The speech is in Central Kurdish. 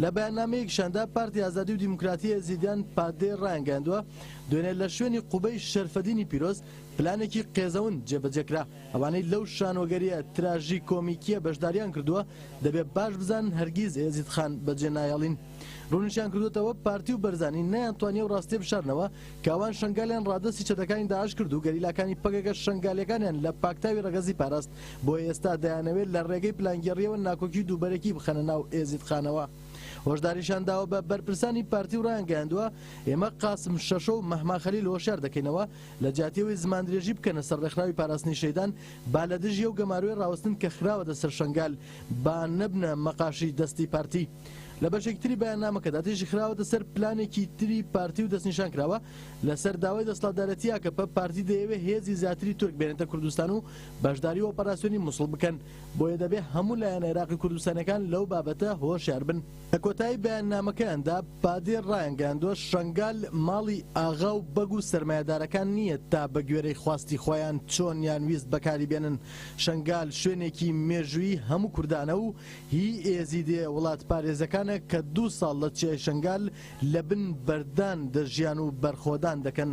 لە بەیاننامەیەکیشاندا پارتی ئازادی و دیموکراتی ئێزیدیان، پادێ، ڕایانگەیاندووە، دوێنێ لە شوێنی قوبەی شەرفەدینی پیرۆز پلانێکی قێزەون جێبەجێکرا، ئەوانەی لەو شانۆگەرییە تراژیکۆمیکییە بەشدارییان کردووە دەبێ باش بزانن هەرگیز ئێزید خان بەجێ نایەڵین. ڕوونیشیان کردووەتەوە، پارتی و بەرزانی نەیانتوانی ئەو ڕاستییە بشارنەوە کە ئەوان شەنگالیان ڕادەستی چەتەکانی داعش کرد و گەریلاکانی پەکەکە شەنگالییەکانیان لە پاکتاوی ڕەگەزی پاراست. بۆ ئێستا دەیانەوێت لە ڕێگەی پلانگێڕییەوە ناکۆکی و دووبەرەکی بخەنە ناو ئێزیدخانەوە. هۆشداریشانداوە بە بەرپرسانی پارتی و ڕایانگەیاندووە، ئێمە قاسم شەشۆ و مەهما خەلیل هۆشیار دەکەینەوە، لەجیاتی ئەوەی زماندرێژی بکەنە سەر ڕێکخراوی پاراستنی شەیدان، با لە دژی ئەو گەمارۆی ڕاوەستن کە خراوەتە سەر شەنگال، با نەبنە مەقاشی دەستی پارتی. لە بەشێکی تری بەیاننامەکەدا دژی خراوەتە سەر پلانێکی تری پارتی و دەستنیشان کراوە، لەسەر داوای دەسڵاتدارێتی ئاکەپە، پارتی دەیەوێت هێزی زیاتری تورک بێنێتە کوردستان و بەشداری ئۆپەراسیۆنی موسڵ بکەن، بۆیە دەبێت هەموو لایەنە عێراقی کوردستانیەکان لەو بابەتە هۆشیار بن. لە کۆتایی بەیاننامەکەیاندا پادێر ڕایانگەیاندوە، شەنگال ماڵی ئاغا و بەگ و سەرمایەدارەکان نییە تا بەگوێرەی خواستی خۆیان چۆنیان ویست بەکاری بێنن، شەنگال شوێنێکی مێژوویی هەموو کوردانە و هی ئێزیدێ وڵاتپارێزەکانە کە دوو ساڵ لە چیای شەنگال لە بن بەردان دەژیان و بەرخۆدان دەکەن.